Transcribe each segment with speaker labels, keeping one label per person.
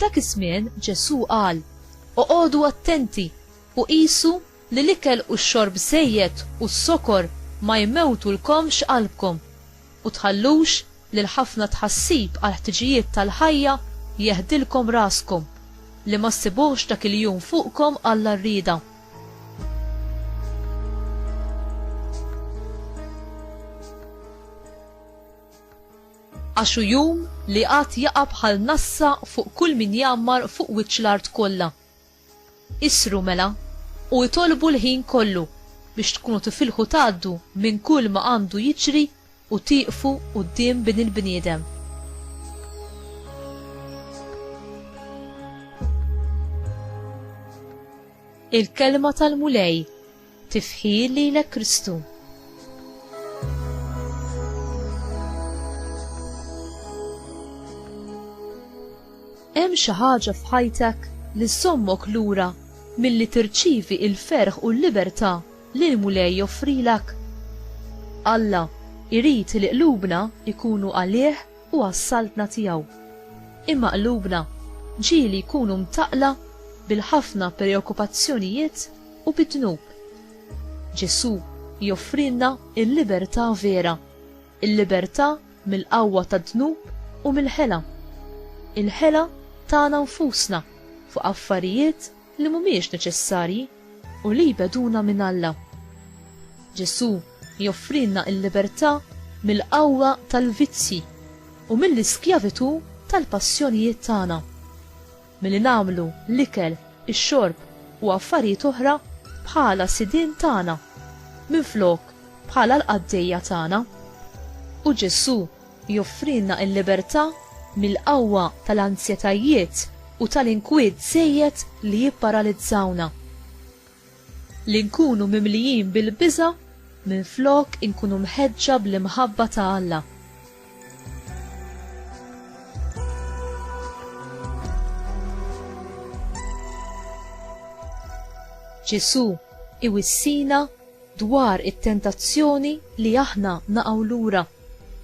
Speaker 1: F'dak iż-żmien Ġesù qal, Oqogħdu attenti u qisu li l-ikel u x-xorb żejjed u s-sokor ma jmewtulkomx qalbkom. U tħallux li l-ħafna tħassib għall-ħtiġijiet tal-ħajja jeħdilkom raskom, li ma ssibuhx dak il-jum fuqkom għalla rrieda. Għax hu jum li għad jaqa' bħal nassa fuq kull min jgħammar fuq wiċċ l-art kollha. Isru mela, u itolbu l-ħin kollu biex tkunu tifilħu tgħaddu minn kull ma għandu jiġri u tieqfu quddiem Bin il-bniedem. Il-Kelma tal-Mulej. Tifħir lilek Kristu. Hemm xi ħaġa f'ħajtek li żommok lura milli tirċievi il-ferħ u l-libertà li l-Mulej joffrilek. Alla jrid li qlubna jkunu għalih u għas-saltna tiegħu. Imma qlubna ġieli jkunu mtaqla bil-ħafna preokkupazzjonijiet u bid-dnub. Ġesù joffrilna l-libertà vera, il-libertà mill-qawwa tad-dnub u mill-ħela, il-ħela tagħna nfusna fuq affarijiet li mhumiex neċessarji u li jbegħduna minn Alla. Ġesù joffrilna l-libertà mill-qawwa tal-vizzji u mill-iskjavitù tal-passjonijiet tagħna. milli nagħmlu l-ikel, ix-xorb u affarijiet oħra bħala sidien tagħna, minflok bħala l-qaddejja tagħna. U Ġesù joffrilna l-libertà mill-qawwa tal-anzjetajiet u tal-inkwiet żejjed li jipparalizzawna. li nkunu mimlijin bil-biża' minflok inkunu mħeġġa bl-imħabba ta' Alla. Ġesù iwissina dwar it-tentazzjoni li aħna naqgħu lura.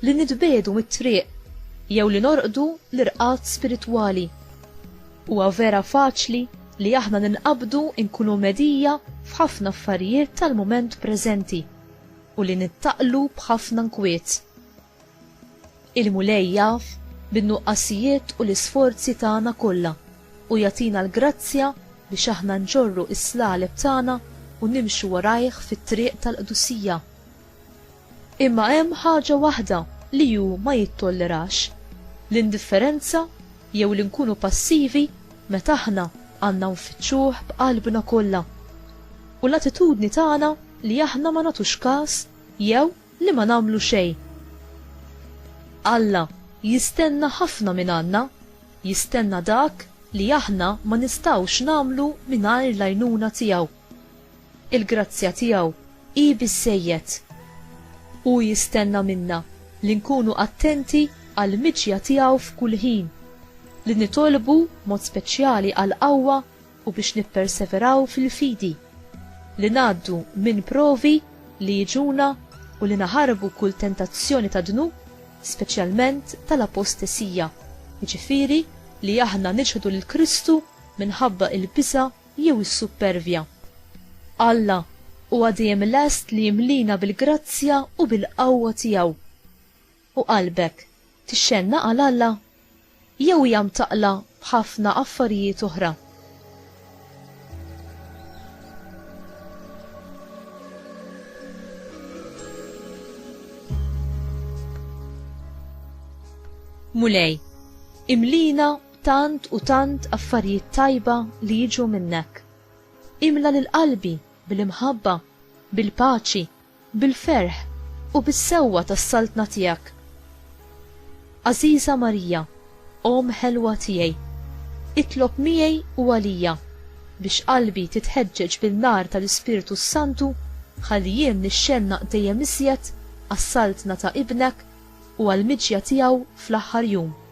Speaker 1: Li nitbiegħdu mit-triq jew li norqdu l-irqad spiritwali. Huwa vera faċli li aħna ninqabdu nkunu mhedija f'ħafna affarijiet tal-mument preżenti u li nittaqlu b'ħafna nkwiet. Il-Mulej jaf bin-nuqqasijiet u l-isforzi tagħna kollha u jagħtina l-grazzja biex aħna nġorru s-slaleb tagħna u nimxu warajh fit-triq tal-qdusija. Imma hemm ħaġa waħda li hu ma jittollerax, l-indifferenza jew li nkunu passivi meta aħna għandna nfittxuh b'qalbna kollha. U l-attitudni tagħna li aħna ma nagħtux kas jew li ma nagħmlu xejn. Alla jistenna ħafna mingħandna, jistenna dak li aħna ma nistgħux nagħmlu mingħajr l-għajnuna tiegħu. Il-grazzja tiegħu hi biżżejjed. Hu jistenna minna li nkunu attenti għall-miġja tiegħu f'kull ħin, li nitolbu b'mod speċjali għall-qawwa u biex nipperseveraw fil-fidi, li ngħaddu minn provi li jiġuna u li naħarbu kull tentazzjoni tad-dnub, speċjalment tal-apostesija, jiġifieri li aħna niċħdu lil Kristu minħabba l-biża' jew is-suppervja. Alla huwa dejjem lest li jimlina bil-grazzja u bil-qawwa tiegħu. U qalbek tixxennaq għal Alla? Jew hija mtaqqla b'ħafna affarijiet oħra? Mulej, imlina Tant u tant affarijiet tajba li jiġu minnek. Imla lil qalbi bil-imħabba, bil-paċi, bil-ferħ u bis-sewwa tas-Saltna tiegħek. Għażiża Marija, Omm ħelwa tiegħi, itlob miegħi u għalija biex qalbi titħeġġeġ bin-nar tal-Ispirtu s-Santu ħalli jien nixxennaq dejjem iżjed għas-Saltna ta' Ibnek u għall-miġja tiegħu fl-aħħar jum.